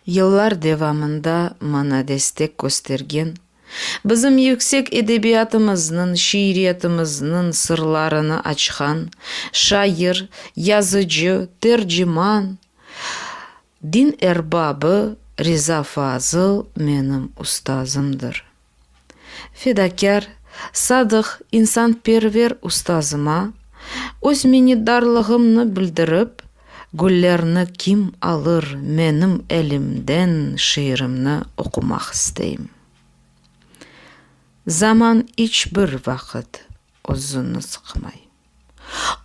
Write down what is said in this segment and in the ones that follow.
Yıllar devamında maña destek köstergen, bizim yüksek edebiyatımıznıñ, şiiriyetimizniñ sırlarını açqan şair, yazıcı, terciman, din erbabı Riza Fazıl menim ustazımdır. fedakâr, sadıq, insanperver ustazıma öz minnetdarlığımnı bildirip, Güllerni kim alır menim elimden şiirimni oqumaq isteyim. Zaman iç bir vaqıt özüni sıqmay.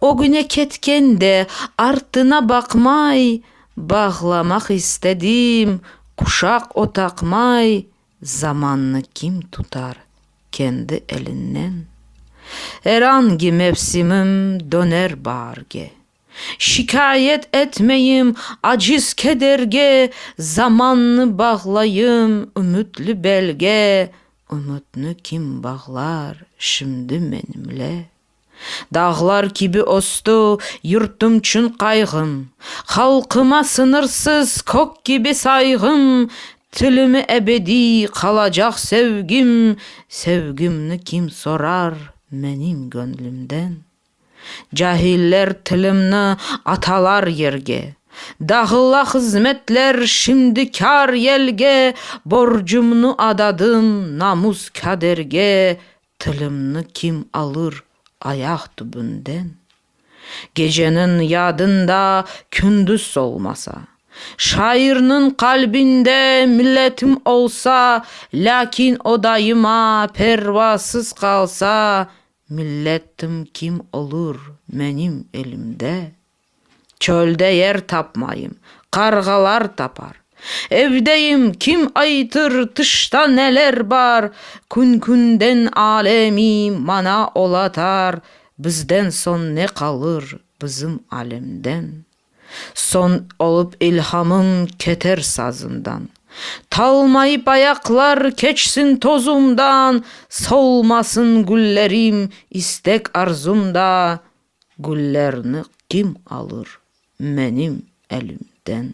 Ögüne ketken de, artına baqmay, Bağlamaq istedim quşaq o taqmay, Zamannı kim tutar kendi elinnen? Er angi mevsimim döner baarge. Şikâyet etmeyim aciz kederge, Zamannı bağlayım ümütli belge, Ümütni kim bağlar şimdi menimle? Dağlar kibi östü yurtum çün qayğım, Halqıma sıñırsız kök kibi sayğım, Tilime ebediy qalacaq sevgim, Sevgimni kim sorar menim göñlümden? Cahiller tilimni atalar yerge, Dağıla hızmetler şimdi kâr-yelge, Borcumnu adadım namus-kaderge, Tilimni kim alır ayaq tübünden? Geceniñ yadında kündüz solmasa. Şairniñ qalbinde milletim olsa, Lâkin o daima pervasız qalsa, Millettim kim olur menim elimde? Çölde yer tapmayım, qarğalar tapar. Evdeyim, kim aytır, tışta neler bar. Kün-künden alemi mana olatar, Bizden soñ ne qalır bizim alemden? Soñ olıp ilhamım keter sazımdan. Talmayıp ayaqlar keçsin tozumdan, Solmasın güllerim istek-arzumda. Güllerni kim alır menim elimden?